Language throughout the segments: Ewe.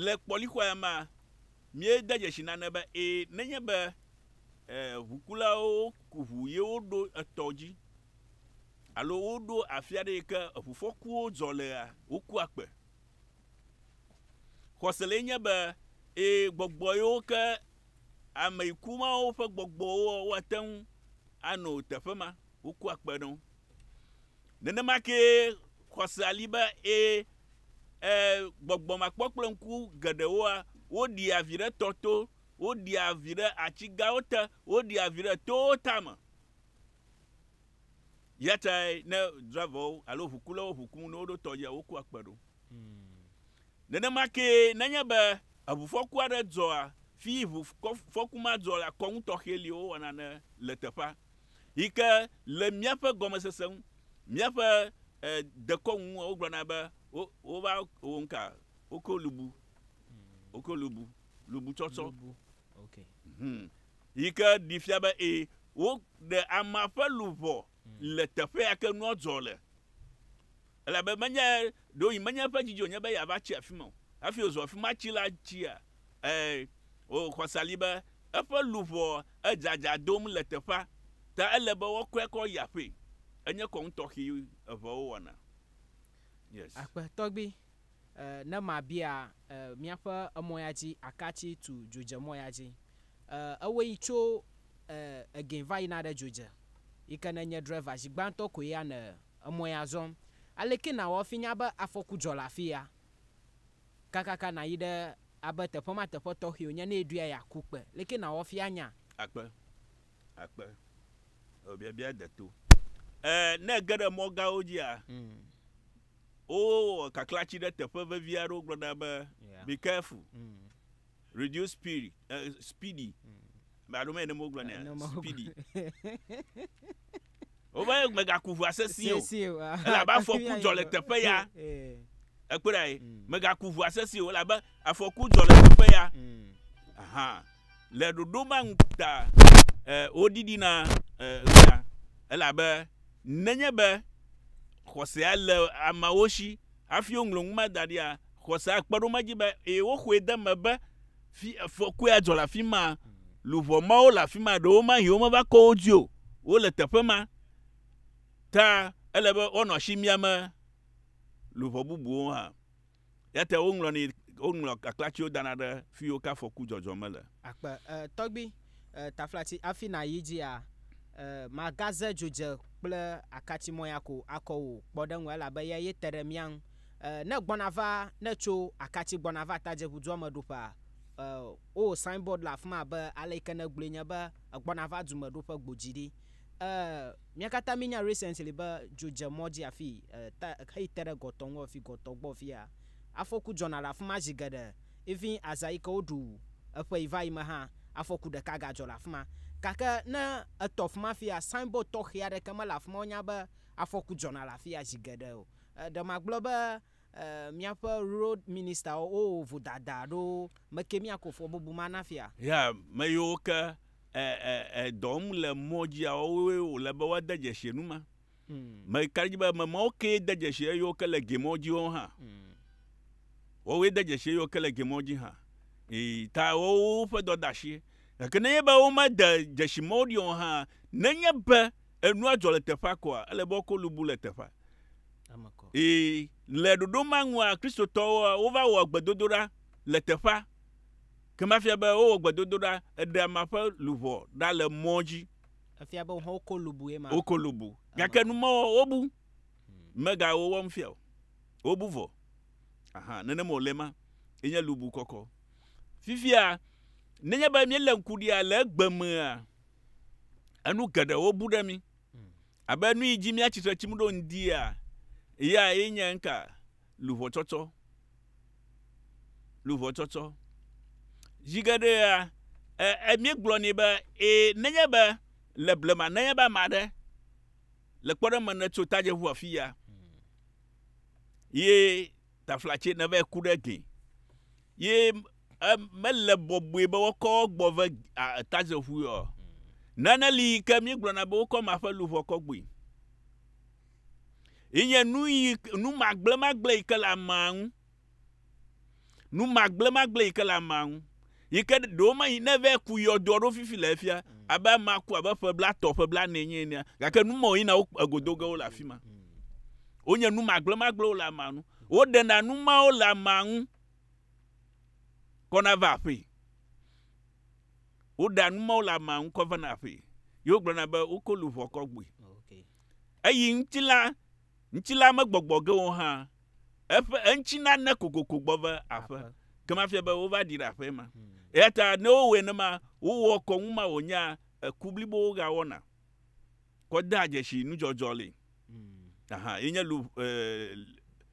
Le kpɔlixɔea mea, míede dzesi nane be ẽ, nenye be ʋukulawo ku ʋu ye woɖo etɔ dzi alo woɖo afi aɖe yi ke ʋufɔkuwo dzɔ lea, wokua kpe. Xɔse lae nye be ẽ, gbɔgbɔ yiwo ke ame yi ku mawo ƒe gbɔgbɔwoa, woate ŋu ano teƒe ma, wokua kpe ɖe wo. Nenema kee xɔsea li be ẽ, ẽ, gbɔgbɔ makpɔ kple ŋku geɖewoa, woɖia vi ɖe tɔ to, woɖia vi ɖe ati gãwo te, woɖia vi ɖe towo tame. Yatae ne driverwo alo ʋukulawo ʋu kum ne woɖo tɔ dzia, wokua kpe ɖo. Nenema kee nenye be eʋufɔku aɖe dzɔa, fi ʋufɔku ma dzɔ lea, kɔnu tɔxɛ li wowɔna ne le teƒea. yi ke le míaƒe gɔmesese ŋu, míaƒe eh, dekɔnu ŋu, wogblɔna be wo, wova wɔ nuka? Woko lubu. Woko lubu. Lubutsɔtsɔ. Lubu. Ok. Hmm. Yi ke ɖi fia be ee, woɖe amea ƒe luʋɔ le teƒea ke nua dzɔ le. Elabe menye ɖewohĩ menye eƒe dzi dzonye be yeava tsi afi ma o, hafi wòzu afi ma tsila tsia? Ẽ, wò xɔse li be eƒe luʋɔa edzadza dom le teƒea, ta ele be woakɔe kɔ yi aƒee. Enye kɔnu tɔxɛ eveawo wɔna. Yes. Akpe tɔgbi, e, ne mabia e, miaƒe emɔ ya dzi aka tsi tu dzodzemɔ ya dzi. E, ewɔe yi tso e, egɛ va yina ɖe dzodze, yi ke ne nye driver zi gbãtɔ koe ya ne Emɔe azɔ. Aleke nàwɔ afi nya be afɔku dzɔ le afi ya? Kakaka nàyi ɖe abe teƒe ma teƒe tɔxɛ wònye ne èɖoe yeaku kpe. Leke nàwɔ afi anya? Akpe, akpe. Eo biabia de to. E, ne ège ɖe mɔ gãwo dzia, wowɔ kaklatsi ɖe teƒe vevi aɖewo gblɔna be, Be careful. Radio Spirit, eh, Speedy. Alo mɛ ne mo gblɔ nɛ. Speedy. Wova ye megaku ʋua sesio. Sesio. ah, Ele abe afɔku teƒe ya dzɔ le yibɔ. teƒe ya. Eh, Ekpɔe ɖa ye. Mm. Megaku ʋua sesio ele abe afɔku dzɔ le teƒe ya. mm, Aha. Le ɖoɖo ma ŋu ta eh, woɖiɖina eh, ɣea. Ele abe nenye be xɔsea le ameawo si hafi woŋlɔ nu ma da ɖia Xɔsea kpe ɖo me dzi be, ee, woxɔe de eme be fi, afɔkue adzɔ le afi ma. Luʋɔ mawo le afi ma. Ɖewomahi womeva kɔ wo dzi o. Wole teƒe ma. Ta ele be woanɔ asi miam luʋɔ bubuwo hã. Eya ta woŋlɔnɛ, woŋlɔ kaklatiwo dana ɖe fiwo ke afɔku dzɔdzɔ mele. Akpe. E, tɔgbui, e, taflatsi afi nàyi dzia, e, magaze dzodze kple akatimɔ̃ya ko akɔ wò kpɔɖeŋu elabe eyae te ɖe mía ŋu. E, ne gbɔna va, ne tso akatsi gbɔna va tadzeʋu dua me ɖoƒea, e, wowɔ signboard le afima be ale yike ne gblɔe nye be egbɔna va dume ɖoƒe gbodzi ɖi. E, mía katã mi nya recently be dzo dze mɔ dzi afi, e, ta, heyi te ɖe gɔtɔ ŋu afi gɔtɔ gbɔ fia. Afɔku dzɔna le afima zi geɖe. Even aza yike woɖu eƒe yi va yi me hã, afɔku ɖeka ga dzɔ le afima. Gake ne etɔ afima fia, signboard tɔxɛ aɖeke mele afima, wonya be afɔku dzɔna le afia zi geɖe o. Ɖe magblɔ be miaƒe road minister wo wowɔ vodada ɖo meke miako fɔ bubu ma na fia? Ya meyiwo ke edɔm le mɔ dzia wowoe wòle be woade dzesi enu ma. Meka ɖe edzi be ame mawo kee de dzesi eyiwo ke le gemɔ dzi wo hã. Wowoe de dzesi eyiwo ke le gemɔ dzi hã. Eyi ta wowoƒe dɔ de asi. Gake nenye be womede dzesi mɔwo ɖi o hã, nenye be. Enua dzɔ le teƒea koa? Ele be woako lu bu le teƒea. Ee, le ɖoɖo ma ŋua, Kristotɔwoa, wova wɔ gbedodoɖa le teƒea. Ke mafia be wowɔ gbedodoɖa, eɖe ame ƒe luʋɔ ɖa le mɔ dzi. Efia be wohã woko lu bu ye ma. Woko lu bu. Gake nu mɔ wobu. Hmm. Mega wowɔm fia o. Wobu vɔ. Aha, nenem wòle ma. Enye lu bu kɔkɔ. Fifia, nenye be míele ŋku ɖia le egbe mea, enu geɖewo bu ɖe mi abe nu yi dzi míatsi tre tsim ɖo ŋdia ya ye nye ŋka luʋɔtsɔtsɔ luʋɔtsɔtsɔ zi geɖe ya míegblɔ nɛ be ee nenye be le blema nenye be ame aɖe le kpɔɖe me ne tso tadzeʋu afi ya ye taflatse ne va ku ɖe gli ye e mele bɔbɔe be wokɔ wo gbɔ ve tadzeƒui o. Nane li yi ke míegblɔna be wokɔ ma ƒe luʋɔ kɔ gbɔe. Yi nye nu yi nu magblẽmagblẽ yi ke le amea ŋu. Nu magblẽmagblẽ yi ke le amea ŋu. Yi ke ɖewo ma yi ne vɛ ku yɔdoa ɖo fifi le efia abe amea ku abe ƒe bla tɔ ƒe bla ne nye enea gake nu ma yina wo egodo ge wo le afima. Wonye nu magblẽmagblẽwo le amea ŋu. Woɖena nu mawo le amea ŋu kɔna va aƒee. Woɖea nu mawo le amea ŋu kɔ vana aƒee. Ye wogblɔna be woko luʋɔ kɔ gbɔe. Eyi ŋutilã, ŋutilã megbɔgbɔ ge o hã, eƒe eŋuti nane kokoko gbɔ va aƒe. Ke mafia be wova ɖi ɖe aƒee ma. Eya ta ne wowɔe nenema, wowɔ kɔnu ma wònyea eku blibowo ɣea wɔna. kɔ dea dzesi nudzɔdzɔ li. Aha, yi nye lu, eh,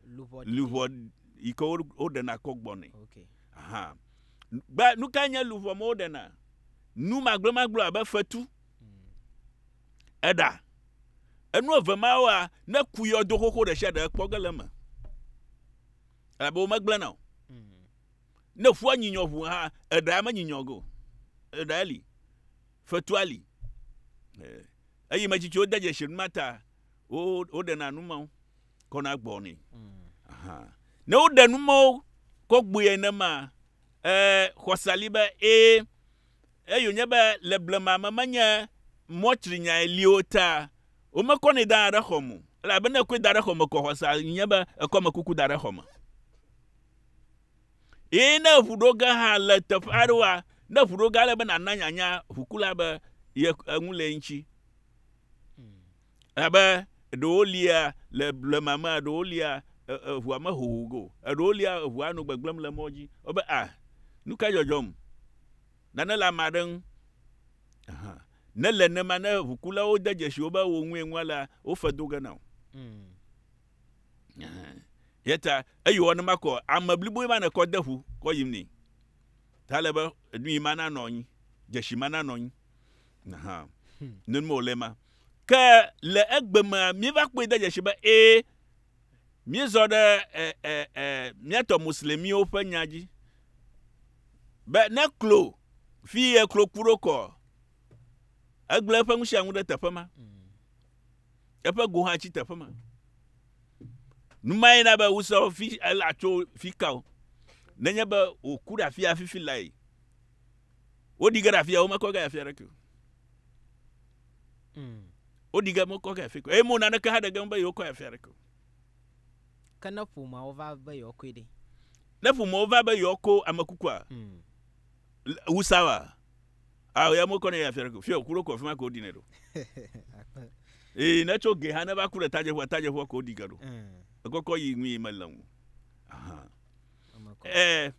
Luʋɔ ɖi. luʋɔ yi ke wo- woɖena kɔ gbɔnɛ. Ok. Aha. Be nu kae nye luʋɔ me woɖena? Nu magblemagble abe fetu, eɖa. Enu eve mawoa, ne ku yɔdo xoxo ɖe sia ɖe ekpɔ ge le eme. Elabe wo megblẽna o. Mm. Ne ƒua nyinyɔ ŋu hã, eɖa menyinyɔ ge o. Eɖae li. Fetua li, eyi me tsitsi wode dzesi nu ma ta wo woɖena nu mawo kɔna gbɔ nɛ. Ne woɖe nu mawo kɔ gbɔe nenema ee xɔsa li be ee eyi wònye be le blema me menye mɔtrinyae li wo ta womekɔnɛ dana ɖe xɔme o elabe ne ekɔe da ɖe xɔme kɔ xɔsa nye be ekɔ amekuku da ɖe xɔme. Eye ne ŋu ɖo ge hã le teƒe aɖewoa, ne ŋu ɖo ge ale be nàna nyanya ʋukula be ye eŋu le eŋuti. Abe ɖewo lia le blema mea, ɖewo lia e- eŋua mehoho ge o. Eɖewo lia eŋua nɔ gbegblẽm le mɔ dzi. Wobe a nu ka dzɔdzɔm? Nane le ame aɖe ŋu. Ahan. Ne le nenema ne ʋukulawo de dzesi wo be wo ŋue ŋua lea, wofe do ge na wò. yeta eyi wɔ ne makɔ ame blibo ma nekɔ de ƒu kɔ yim ni ta le be enu yi ma nanɔ anyi dzesi ma nanɔ anyi ha hmm. nenu mo le ma ke le egbe me mi va kpɔe de dzesi be e mi zɔ ɖe e e e miatɔ muslimiwo ƒe nya dzi be ne klo fi ye klo ku ɖo kɔ egble eƒe ŋusia ŋu ɖe teƒe ma hmm. eƒe go hã tsi teƒe ma. Numae na be wosɔ fi ela tso fi ka o. Nenye be wòku ɖe afia fifi lae, woɖi ge ɖe afia, womekɔ ge afia ɖeke o. Hmm. Woɖi ge mekɔ ge afia eye mo naneke hã ɖe ge be yewokɔ afia ɖeke o. Ke ne ƒomeawo va be yewoakɔe ɖe? Ne ƒomeawo va be yewoakɔ ame kukua, hmm. wusa wa? Ah, ya mo kɔne ya fia ko fia kuro ko fima ko dine do. Eh, ne tso ge ha ne va kure taje fua taje fua ko di gado. Eh. Ko ko yi mi me lamu. Aha. Eh.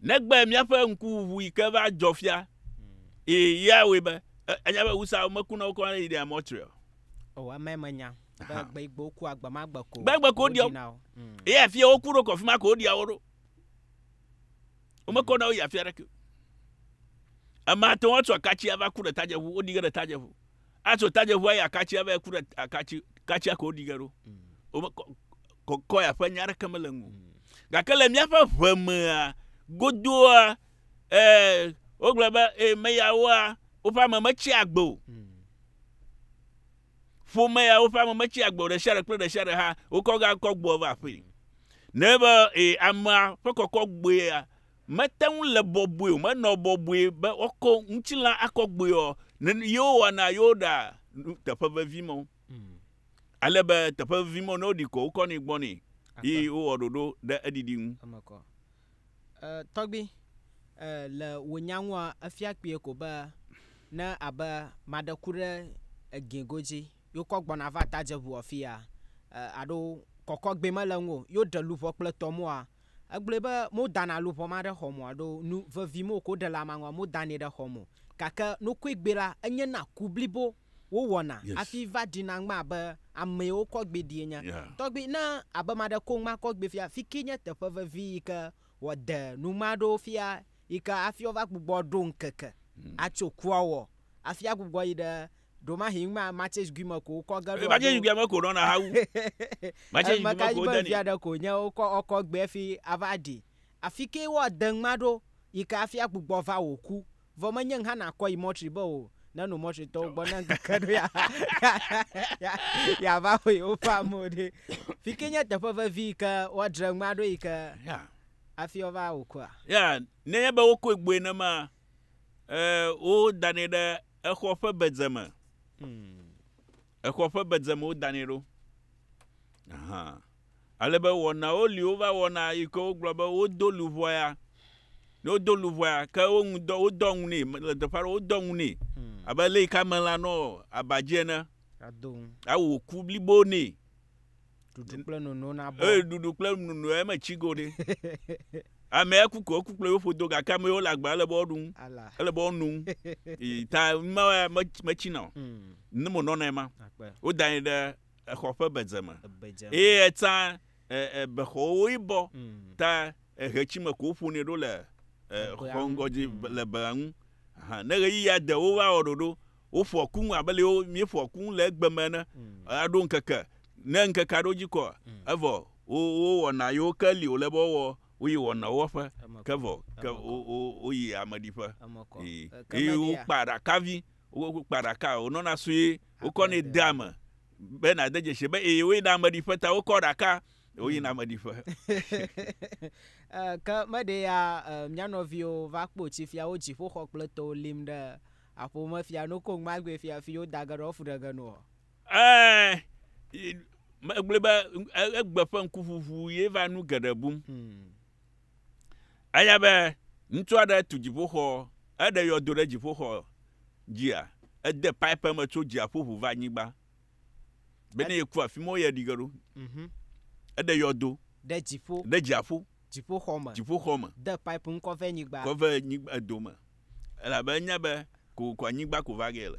Ne gbe mia fe nku vu ke va jo fia. Hmm. Eh, ya we be anya be usa me kuna ko ne ide amotri. Oh, ame me nya. Be gbe igbo ku agba ma gbe ko. Gbe gbe ko di. Eh, fia okuro ko fima ko di aworo. Womekɔ na wo yi afi aɖeke o. Ame ate ŋu atso akatsi ava ku ɖe tadzeʋu, woɖi ge ɖe tadzeʋu. Atso tadzeʋua yi akatsi ava yi ku ɖe akatsi, katsia ko woɖi ge ɖo. Womekɔ kɔkɔ ya ƒe nya aɖeke mele ŋu. Gake le míaƒe ʋe mea, godoa, ee, wogblɔ be, ee, meyawoa, woƒe ame metsia agbe o. Ƒome yawo ƒe ame metsi agbe o, ɖe sia ɖe kple ɖe sia ɖe hã wokɔ ge akɔ gbɔe va aƒee. Nenye be ee, amea ƒe kɔkɔ gbɔe ya mete ŋu le bɔbɔe o, menɔ bɔbɔe be woakɔ ŋutilã akɔ gbɔe o, nen, yewo wɔna yewo ɖa nu teƒe vevi mawo. Mm. Ale be teƒe vevi mawo, ne woɖi kɔ, wokɔnɛ gbɔ nɛ, Akpa. yi wowɔ ɖoɖo ɖe eɖiɖi ŋu. Eme kɔ. E, tɔgbui, e, le wò nya ŋua, efia kpuie ko be ne abe maɖe ku ɖe egin godzi, yo kɔ gbɔna va tadzeʋu ɔfi ya, e, aɖo kɔkɔ gbɛ mele ŋu, yo ɖe luʋɔ kple tɔ mua, egblɔe be mo dana luʋɔ ma ɖe xɔmɔ aɖo nu vevi mo ko ɖe le amangua mo danɛ ɖe xɔmɔ. Gake nokue gbɛ la, enye na ku blibo. wowɔna hafi va ɖina ŋma abe amee wokɔ gbee ɖi ene. Tɔgbi, ne abe ame aɖe ko ŋma kɔ gbee fia, fi kee nye teƒe vevi yi ke wòade nu ŋma ɖo fia yi ke hafi wova gbugbɔ aɖo ŋkeke atso kua wɔ hafi agbugbɔ yi ɖe ɖewomahi ŋma Matsej Gui me ko wokɔ ge ɖo alo Matsej Gui me ko wonɔna hawu. Matsej Gui me ko wodeni. Eme ka dzi be via ɖe ko wònye wokɔ gbee hafi ava ɖii? Afi kee woade ŋma ɖo yi ke hafi agbugbɔ va wò ku. Vɔ menye ŋ hã nàkɔ yi mɔtri be o, ne nu mɔtritɔwo gbɔ ne ŋkeke ɖo ya ya va xɔ yewoƒe amewo ɖe. Fi ke nye teƒe vevi yi ke woadre ŋma ɖo yi ke Ya. hafi wova wò kua. Ya, nenye be wokɔe gbɔe nema, e, wodanɛ ɖe exɔ ƒe bedze me. Exɔ ƒe bedze me wodanɛ ɖo. Ahan. Ale be wɔnawo li wova wɔna yi ke wogblɔ be wodo luʋɔ ya. Ne wodo luʋɔ ya, ke woŋu dɔ, wodɔ ŋu nɛ. Le teƒe aɖe wodɔ ŋu nɛ. Abe le yi ke amelã nɔ aba dzi ene. Ado ŋu. Awu ku blibo nɛ. Ɖuɖu kple nono nabɔ. Eye ɖuɖu kple nono ya metsi go ɖe. Amea ku ko eku kple yewo ƒodo gake ame yiwo le agba ele be woaɖu ŋu. Ala. Ele be woanu ŋu. Yi ta numawo ya me- metsina o. Mm. Ne monɔnae ma. Akpe. Wodanɛ ɖe exɔ ƒe bedze me. Eye etsã bexɔwo woe bɔ ta eɣetsi me ko woƒonɛ ɖo le xɔ ŋgɔ dzi le bea ŋu. Ne ɣeyiɣia de wova wɔ ɖoɖo, woƒoa ku ŋu abe le wo míeƒoa ku ŋu le egbe me ene. Aɖo ŋkeke, ne ŋkekea ɖo dzi kɔ evɔ wo wowɔna yewo ke li wòle be woawɔ woyi wɔna wɔƒe ke vɔ ke wo wo woyi ameɖiƒe yi yi wokpa aɖakavi. Wokpaa ɖaka, wònɔna sue, wokɔnɛ dea eme be nàde dzesi be eye woyina ameɖiƒe ta wokɔ ɖaka woyina ameɖiƒe. Ke meɖee ya mía nɔviwo va kpɔ tsi fia wo dziƒoxɔ kple towo lim ɖe aƒo me fia no koŋ magbee fia fi woda ge ɖe woafu ɖe ge noa? Ɛ̃, megblɔe be egbe ƒe ŋkuʋuʋu ye va nu geɖe bum. Eya be ŋutsu aɖe tu dziƒoxɔ, eɖe yɔdo ɖe dziƒoxɔ dzia, ede pipe me tso dziaƒo ʋu va anyigba. Be ne yeku afi ma, woyɛ ɖi ge ɖo. Mhm. Eɖe yɔdo Ɖe dziƒo, ɖe dziaƒo, dziƒoxɔ me. dziƒoxɔ me, De pipe ŋkɔ vɛ nyigba. kɔ ve nyigba edo me. Elabe enya be kokoko anyigba ko va ge yele,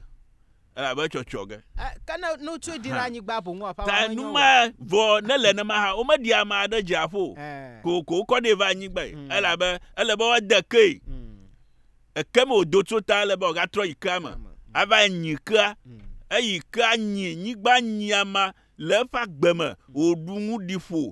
elabe etsɔtsɔ ge. Eh, ke ne, ne wotsoe ɖi ɖe anyigba boŋ ƒe Ta enu ma vɔ ne le nema hã womeɖi amea ɖe dziaƒo o, eh. kokoko wokɔ ɖee va anyigbae, mm. elabe ele be woade kee. Mm. Eke me wòdo tso ta ele be wògatrɔ yi kea me, mm. ava nyi kea, mm. eyi kea nyi, nyigba nyi ama le eƒe agbe me, wòɖu nu ɖi ƒo,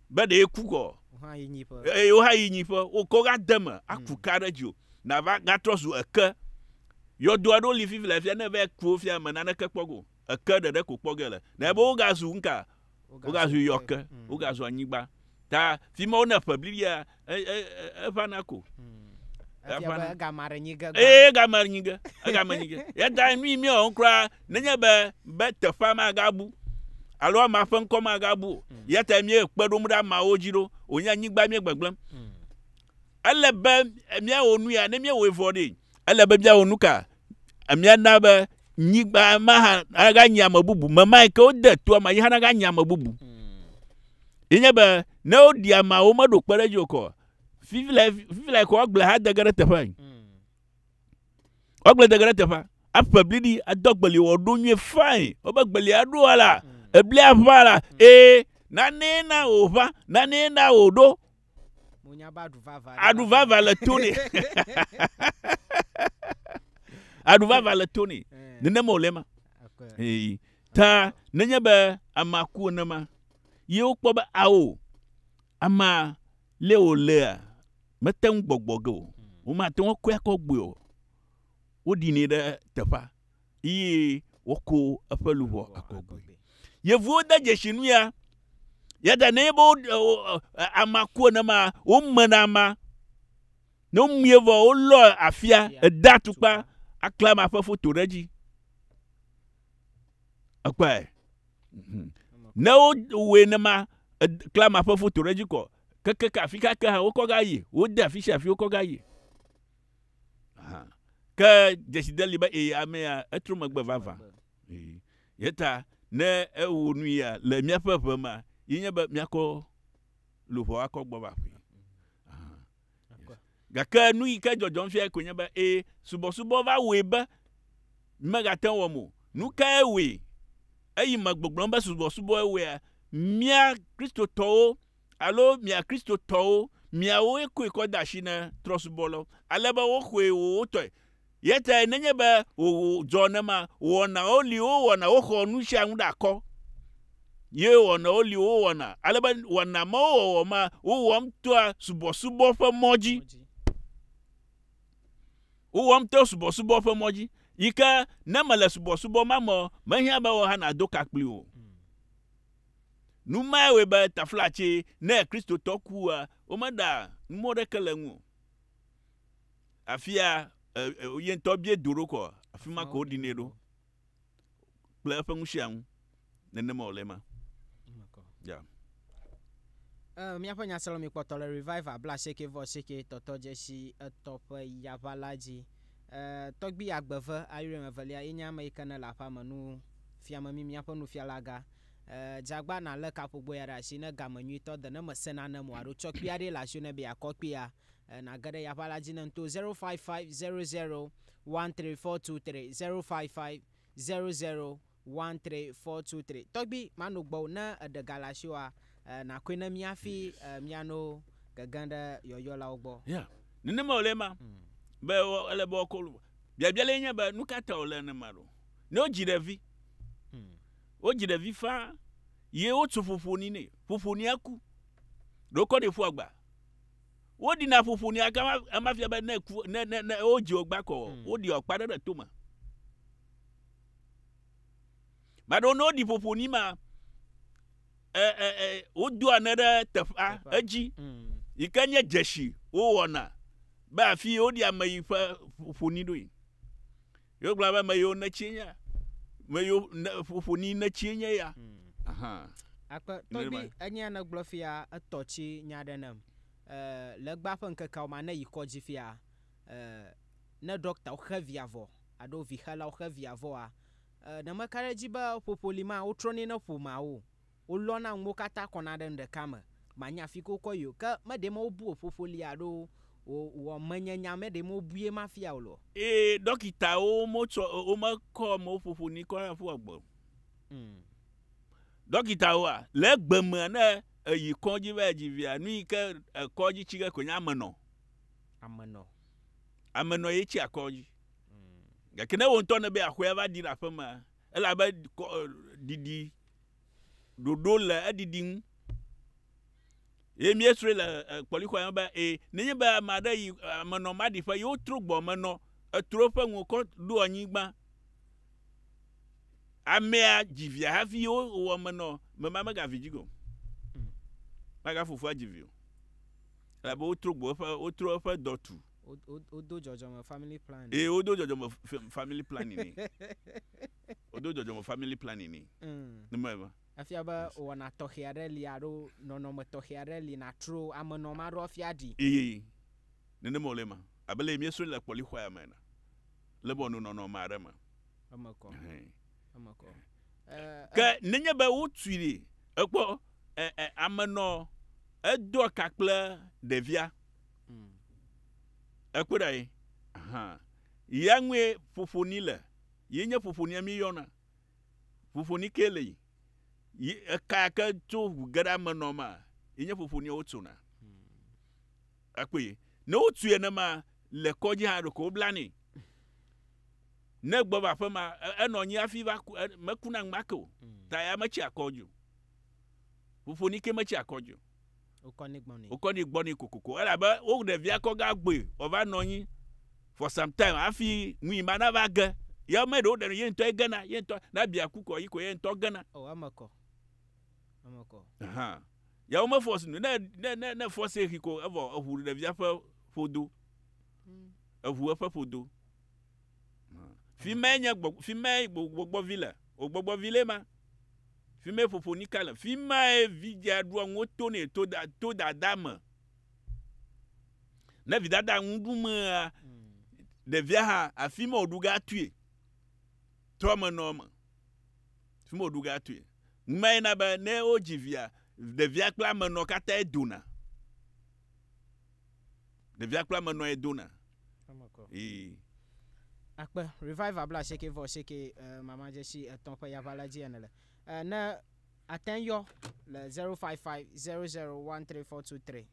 be ɖe ku kɔ eye wo hã yi nyiƒe wokɔ ga de me aku hmm. ka ɖe dzi o nava gatrɔ zu eke yɔdo aɖo li fifi le afia ne va ku wo fia me naneke kpɔ go eke ɖeɖe ko kpɔ ge le na ebe wo gazu nka wo gazu yɔke hmm. wo gazu anyigba ta fi ma wo ne ƒe blibia eʋana ko eʋana gama ɖe nyige ee gama ɖe nyige egama nyige yeda nu yi mi ɔn kura nenye be be teƒea magabu alo ama ƒe ŋkɔ magabu o hmm. yata mi ekpe ɖom ɖe amawo dzi ɖo wònye anyigba mi gbegblem hmm. ele be miawɔ nu ya ne miawɔ vɔ ɖe ele be míawɔ nu ka? Míana be nyigba ma hã naganyi ame bubu. Memae ke wode toa ma yi hã naganyi ame bubu. Ye nye be ne woɖi amea womeɖo kpe ɖe edzi o kɔ. Fifi le fifi le kɔ agble hã de ge ɖe teƒe. Woagble de ge ɖe teƒe. Aƒe bliɖi ado agbeli wòaɖo nyuie fine. Wobe agbeli aɖo ala eblia ʋã la ee nanee na wòʋã nanee na wòɖo Monya be aɖu vava. ɖe Aɖu va vava le to nɛ. Aɖu va va le to nɛ. Eh, Nenema wòle ma. ok. Ee. Ta nenye be amea ku enema, ye wokpɔ be ao, amea lé wòlea, mete ŋu gbɔgbɔ ge o. Womate ŋu akɔe akɔ gbɔe o. Woɖinɛ ɖe teƒea. eye wòako eƒe luʋɔ akɔgui. Yevuwo de dzesi nu ya. Yada ne be amea ku enema womena ama. Ne womie vɔ wolɔ afia ede atukpa akle ama ƒe foto ɖe edzi. Ekpɔe. Mhm. Ne wowɔe nema kle ama ƒe foto ɖe edzi kɔ kekeke afi kake hã wokɔ ga yi wode afi sia afi wokɔ ga yi. ke dzeside li be ee amea etrɔ megbe vavã ye ta ne ewɔ nu ya le míaƒe ʋe ma yi nye be míakɔ luʋɔ akɔ gbɔ va ƒui gake nu yi ke dzɔdzɔm fia koe nye be ee subɔsubɔ va wɔe be megate ŋu wɔm o nu kae wɔe eyi me gbɔgblɔm be subɔsubɔe wɔea mía kristotɔwo alo mia Kristotɔwo, miawoe koe kɔ de asi na trɔ̃subɔlawo, ale be woxɔe wowotɔe. Eya tae nenye be wòdzɔ ne ma, wɔnawo li wowɔna, woxɔ nu sia nu ɖe akɔ, ye wɔnawo li wowɔna, ale be wɔna mawo wɔwɔ ma, wowɔm toa subɔsubɔ ƒe mɔ dzi. Wowɔm to subɔsubɔ ƒe mɔ dzi, yi ke ne mèle subɔsubɔ ma me o, mehiã be wò hã nàdo ka kpli o. Nu mae wɔe be taflatse, ne Kristotɔ kua, womeɖa numɔ̃ ɖeke le eŋu o. Afia ye ŋutɔ bie do ɖo kɔ, afi ma ko woɖinɛ ɖo kple eƒe ŋusẽaŋu. Nenema wòle ema. Ya. Ee, míaƒe nyasrɔ̃mí kpɔtɔ le Revival blaasieke vɔ asieke tɔtɔ dzesi etɔ̃ ƒe yaʋa la dzi. Ee, Tɔgbui Agbeve, Ayrium Evelia, ye nye ame yi ke nele aƒea me nufiame mí, míaƒe nufialaga. Eeee Jagba na le kaƒogbo ya ɖe asi ne game nyuitɔ de ne me se nanem o alo tsɔ kpia ɖe le asi ne be ya kɔ kpia e na ge ɖe ya ƒe ala dzi ne ŋto 0550013423 0550013423 tɔgbi ma no gbɔ ne eɖe ga le asi wa e na koe ne mi afi e mi ano gege ɖe yɔyɔ la wo gbɔ. Ya nenema wòle ema be ele be wɔkɔ biabia le nye be nukata wòle nenema ɖo ne wodzi ɖevi. Wodzi ɖevi faa ye wotso ƒoƒoni nɛ. Ƒoƒonia ku. Ɖokɔ ɖe ƒua gba. Woɖina ƒoƒonia gã ema fia be ne ku ne ne ne wodzi wogba kɔ mm. woɖi ɔkpa ɖe ɖe tome. Maɖo ne woɖi ƒoƒoni ma ɛ ɛ ɛ wodo ane ɖe teƒea edzi mm. yi ke nye dzesi wowɔna be afi woɖi ame yi ƒe ƒoƒoni ɖoe. Yewogblɔna be meyo netsie nye, meyo ne, ƒoƒo ni netsie nye ya. Ahan. Akpe, tɔgbi, enyea nègblɔ fia etɔ tsi nya ɖe nem. E, legba ƒe ŋkekeawo ma ne yi kɔdzi fia, e, ne ɖɔktawo xe via vɔ, alo vixelawo xe via vɔa, e, ne meka ɖe edzi be ƒoƒo li ma, wotrɔnɛ ne ƒomeawo. Wolɔna nuwo katã kɔna ɖe nu ɖeka me. Manya afi ke wokɔ yi o. Ke meɖee me wobu wò ƒoƒo li alo wò wò menyenya meɖee me wobui ema fia wò le o. Eye ɖɔkitawo motsɔ womekɔ amewo ƒoƒo ni kɔna ɖe ƒua gbe o. Mm. Ɖɔkitawoa, le egbe mea ne èyi kɔdzi va edzi via, nu yi ke èkɔ dzi tsi ge koe nye amenɔ. Amenɔ. Amenɔ ye tsia kɔdzi. Mm. Gake ne wò ŋutɔ nèbe aƒea va ɖi le aƒemea, elabe kɔ e ɖiɖi ɖoɖo le eɖiɖi ŋu. Ye míesrɔ̃e le kpɔlixɔa me be e nenye be ame aɖe yi ame nɔ maɖiƒe ye wotrɔ gbɔ me nɔ etrɔ eƒe ŋu kɔ ɖo anyigba. Amea dzi via hafi ye wowɔ me nɔ mema megavi dzi go. Magafofoa dzi vi o. Elabe wotrɔ gbɔ eƒe wotrɔ eƒe dɔ tu. Wodo dzɔdzɔme family planning. Ee, wodo dzɔdzɔme family planning ni. Wodo dzɔdzɔme family planning ni. Ni mɔ ema. Efia be wɔna tɔxɛ aɖe li alo nɔnɔme tɔxɛ aɖe li nàtro ame nɔ ame aɖe woafi aɖi. Eyi, nenema wòle ema. Abe leye míesrɔ̃e le kpɔlixɔa me ene. Le be wòano nɔnɔme aɖe me. Eme kɔ. Eme kɔ. Ke nenye be wotui ɖi, èkpɔ, ame nɔ edoa ka kple ɖevia. Ekpɔe ɖa ye hã ya ŋue ƒoƒoni le ye nye ƒoƒonia mi yɔna ƒoƒoni ke le yi yi eka ke tso ʋu ge ɖe ame nɔ ma ye nye ƒoƒonia wo tsona ekpɔe ye ne wo tue ne ma le kɔdzi hã ɖo ko wo bla ne ne gbɔ va ƒe ma enɔ nyi afi va ku me kuna ŋmake o ta ya me tsi akɔdzi o ƒoƒoni ke me tsi akɔdzi o wokɔnɛ gbɔ nɛ kokoko elabe wo ɖevia kɔ ga gbɔe wòva nɔ anyi for some time hafi ŋui ma nava ge. Ye ame ɖewo ɖenɔ ye ŋutɔe gena, ye ŋutɔ ne abi aku kɔ yi ko ye ŋutɔ gena. O eme kɔ. Eme kɔ. Ahan. Ya wome force nu ne ne ne ne force xi ko evɔ eʋu ɖevia ƒe ƒodo. Eʋu eƒe ƒodo. Fi mae nye gbɔ, fi mae gbɔgbɔ vi le. O gbɔgbɔ vi le ma. Fi mae ƒoƒo nika le. Fi mae vidzea ɖua nuwo tonɛ to da to dada me. Ne vidada nu ɖu mea, ɖevia hã afi ma wòɖu ga tui. Toa me nɔ me. Fi ma wòɖu ga tui. Numae na be ne wodzi via, ɖevia kple amenɔ katã dona. Ɖevia kple amenɔ dona. ii. Akpe, Revival bla asieke vɔ asieke e mama dzesi etɔ̃ ƒe yaʋa la dzi ene le e ne ate ŋ yɔ le 0550013423,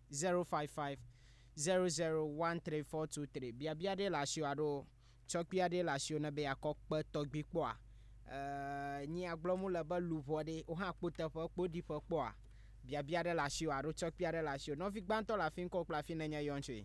0550013423. Biabia ɖee le asiwò alo tsɔkpui aɖee le asiwò ne be yeakɔ kpe tɔgbi kpɔa? E nyi agblɔ mu le be luʋɔ ɖee wo hã kpo teƒe kpo ɖi ƒe kpɔa? Biabia ɖe le asiwò alo tsɔkpui aɖe le asiwò. Nɔvi gbãtɔ le afi ŋkɔwò kple afi nènye yɔn tsoe.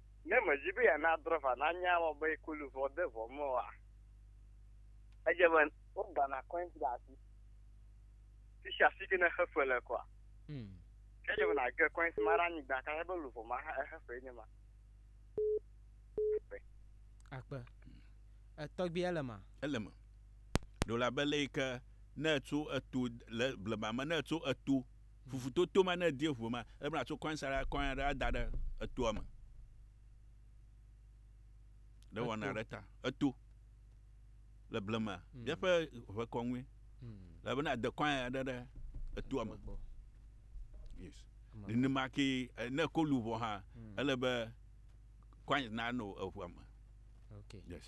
Ne mèdi be yeana drɔva nanya ema be ku luʋɔ de vɔ me oa, edze be wogbãna kɔint ɖe asi sisiasi ke ne xefe le kɔa. Mm. Ke edze be nàge kɔint ma ɖe anyigba kaka be luʋɔ ma hã exefee nye ma. Akpe. Etɔgbi ele ma? Ele me. Ɖo la be le yi ke ne ètso eto le blema me ne ètso eto fufu to to ma ne edie ŋu ma ele be atso kɔin sa ɖe kɔin aɖe ada ɖe etoa me ɖe wɔna ɖe ta eto le blema hmm. míaƒe ʋe kɔŋue hmm. le bena de kɔin aɖe ɖe etoa me yes nenema ke eh, ne ko luʋɔ hã hmm. ele be kɔin na no eŋua me okay yes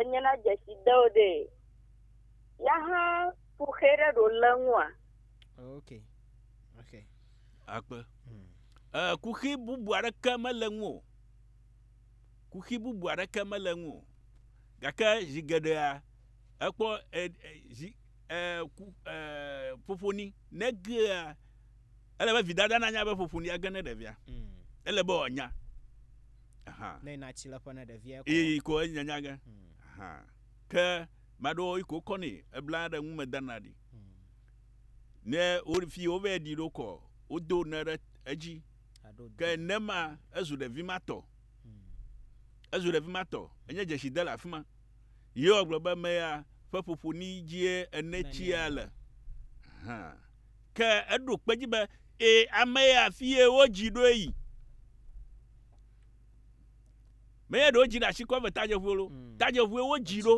enye na dzesi de o ɖe ya hã ƒo xe ɖe ɖo le ŋua. ok ok akpe hmm. eh, kuxi bubu aɖeke mele ŋu o kuxi bubu aɖeke mele ŋu o gake zi geɖea ekpɔ eh, eh, zi eh, ku, eh, ƒoƒoni negea ele be vidada nanya be ƒoƒoni age ne ɖevia hmm. ele be wòanya Aha. Ne yina tsi le ƒe ne ɖevia kɔ. Iyi ko enyi nyanya ge. Hmm. Aha. Ke maɖo yi ko kɔni ebla ɖe ŋu me dana ɖi. Hmm. Ne wo fi wo vɛ ɖi ɖo kɔ wo do ne ɖe edzi. Aɖo. Ke ne ma ezu ɖevi ma tɔ. Hmm. Ezu ɖevi ma tɔ. Enye dzesi de le afima. Yewa gblɔ be me ya ƒe ƒoƒo ni dzie ene tsia le. Aha. Ke eɖo kpe edzi be, Ẽ, ame ya afie wodzi ɖo eyi. Menye ɖe wodzi ɖe ashi kɔve tadzeʋue lo. Mm. Tadzeʋue wodzi ɖo.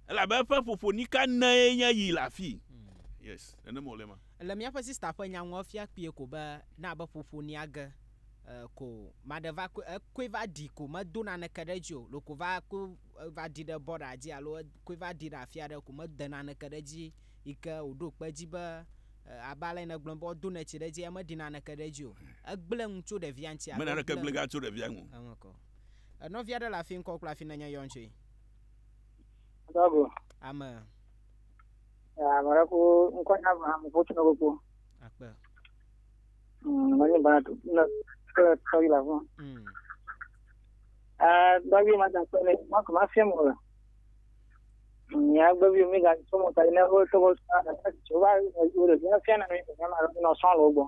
Elabe eƒe ƒoƒo nika nae nye yi le afii. Mm. Yes, nenema wòle ma. Le míaƒe sista ƒe nya ŋu efia kpuie ko be na be ƒoƒo nia ge e, ko maɖe va koe ekoe va ɖi ko medo naneke ɖe edzi o. Lo ko va koe va ɖi ɖe bɔɖa dzi alo e, koe va ɖi ɖe afi aɖe ko mede naneke ɖe edzi yi ke wòɖo kpe edzi be abe ale nègblɔ be wodo neti ɖe edzi eye meɖi naneke ɖe edzi o. Egblẽ ŋu tso ɖevia ŋuti alo egblẽ ŋu. Mena ɖeke gblẽ ga tso ɖevia ŋu. Eŋ kɔ. Nɔvi aɖe le afi ŋkɔ kple afi nenye yɔn tsoe. Dɔgo. Ame. Ame ɖe ko ŋkɔ nya ame ame ko tino koko. Akpe. Mwenye bana tu ne kle tɔyi la fún. Dɔgi ma ta kpe ne ma kò ma fiɛ mo le. Mia gbɔ bi mi ga so mo ta ne ho so mo sa na jo ba jo le na fe na mi na ma no so lo gbo.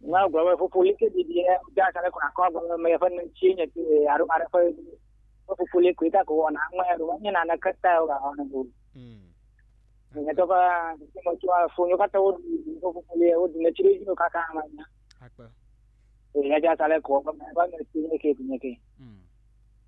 Na gbo we fufu like di di e ja sa le ko na ko gbo me fe ne chi ne ti aru ma re fe fufu le ko ta ko na ma ru ni na na ka ta o ga na go. Ne to ba ti mo tu a fu yo ka ta o fufu le o ne chi le ka ka ma na. Akpa. E ja sa le ko ba ne chi ne ke ti ne ke. Mm.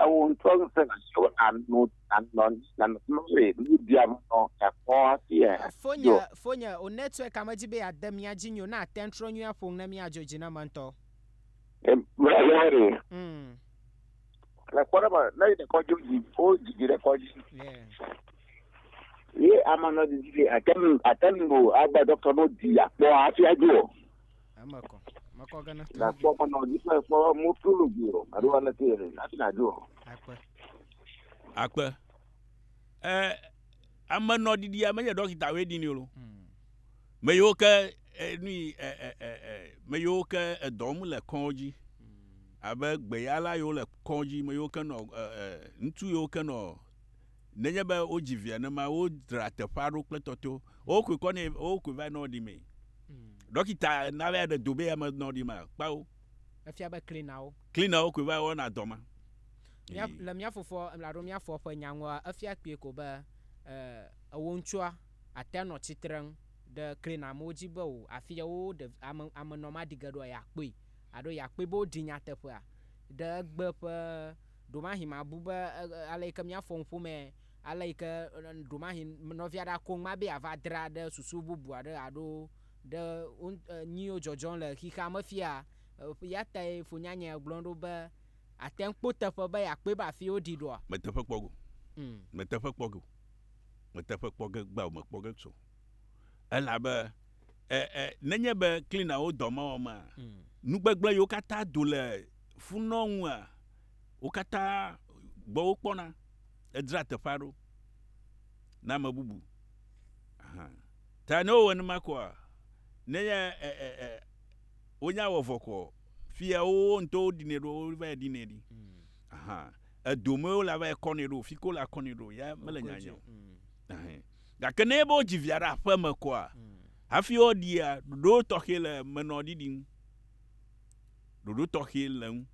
ewò ŋutɔ ŋusẽ nàtsɔ ano anɔ nanɔ nɔe nuɖia me nɔ nakpɔ hafi e Fonye, do. fonye, ò network a medzi be yeade mía dzi nyo ne àte ŋu trɔ nyuie aƒo nu ne míadzɔ dzi na eme ŋutɔ. E mla ya re. Mm. Le kpɔɖeme, ne yi ɖekɔ dzo dzi, wo dzi dzi ɖekɔ dzi. Yeah. Ye ama nɔ dzi dzi be ate ŋu ate ŋu o agba dɔktɔ no di akpɔ hafi adzo o. Eme kɔ. Mekɔ gana. Na kpɔ kɔ na odi fún ẹ̀fọ́ mú tó lò bí o. Àdó wa lẹ́tí ẹ̀rẹ̀ láti nà dó o. Akpẹ. Akpẹ. Ẹ ame nọ didi ame yẹ dọkita wẹ di ni o. Hmm. Me yiwo ke nu yi ẹ ẹ ẹ ẹ me yiwo ke edɔm le kɔdzi. Hmm. Abe gbeyala yiwo le kɔdzi me yiwo ke nɔ ẹ ẹ ŋutsu yiwo ke nɔ Nenye be wodzi via ne ma, wodzra teƒea ɖo kple tɔto. Wokui kɔ nɛ, wokui va nɔ ɖi mee. Hmm. Ɖɔkita na be aɖe do be ame nɔ ɖi ma, kpao. Efia be klinawo. Klinawo kui va wɔna dɔ ma. Mia, le mia fofo, alo mia fɔ ƒe nyaŋua, efia kpui ko be, e, ewo ŋutsua ate nɔ tsitreŋ ɖe klina amewo dzi be o, afi ya wo ɖe, ame, ame nɔ ma ɖi ge ɖoa, ya kpui. Alo ya kpui be woɖi nyateƒea ɖe egbe ƒe. Ɖomahi mabu be ale yi ke míafɔ nuƒo me, ale yi ke ɖomahi nɔvia ɖe ako ŋma be yeava dra ɖe susu bubu aɖe alo ɖe nu yiwo dzɔdzɔm le xexea me fia. Eya tae Fonyanya gblɔ ɖo be, Àte ŋu kpɔ teƒe be yeakpɔe be afii woɖii ɖoa? Mete ƒe kpɔ ge o. Mete ƒe kpɔ ge o. Mete ƒe kpɔ ge gbao mekpɔ ge tso Elabe e, e, nenye be cleanerwo dɔ mewɔmea, mm. nugbegblẽ yiwo katã do le funɔ ŋua, wo katã gbɔ wokpɔna. Edzra teƒea ɖo na ame bubu. Aha. Ta ne wowɔ nenema koa, nenye e, e, e, wonya wɔ vɔ koa, fia wowo ŋutɔ woɖinɛ ɖo, wova yɛ ɖinɛ ɖi. Mm. Aha. Edomee wole ava yɛ kɔnɛ ɖo, fi ke wole akɔnɛ ɖo, ya mele nyanya o. Mm. Gake ne enye be wodzi via ɖe aƒe me koa, hafi woɖia, ɖoɖo tɔxɛ le menɔ ɖiɖi ŋu. Ɖoɖo tɔxɛ le ŋu.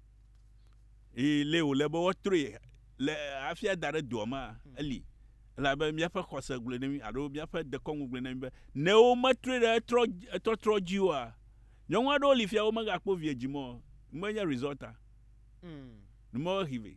Eye lé wòle be woatrɔe le hafi ada ɖe doa mea, eli. Elabe míaƒe xɔse gblɔe na mí alo míaƒe dekɔnu gblɔe na mí be ne wometrɔe ɖe etrɔ, etɔtrɔ dzi oa, nyɔnu aɖewo li fia womegakpɔ vi dzi mɔ, menye result a. Nu mawo he vɛ.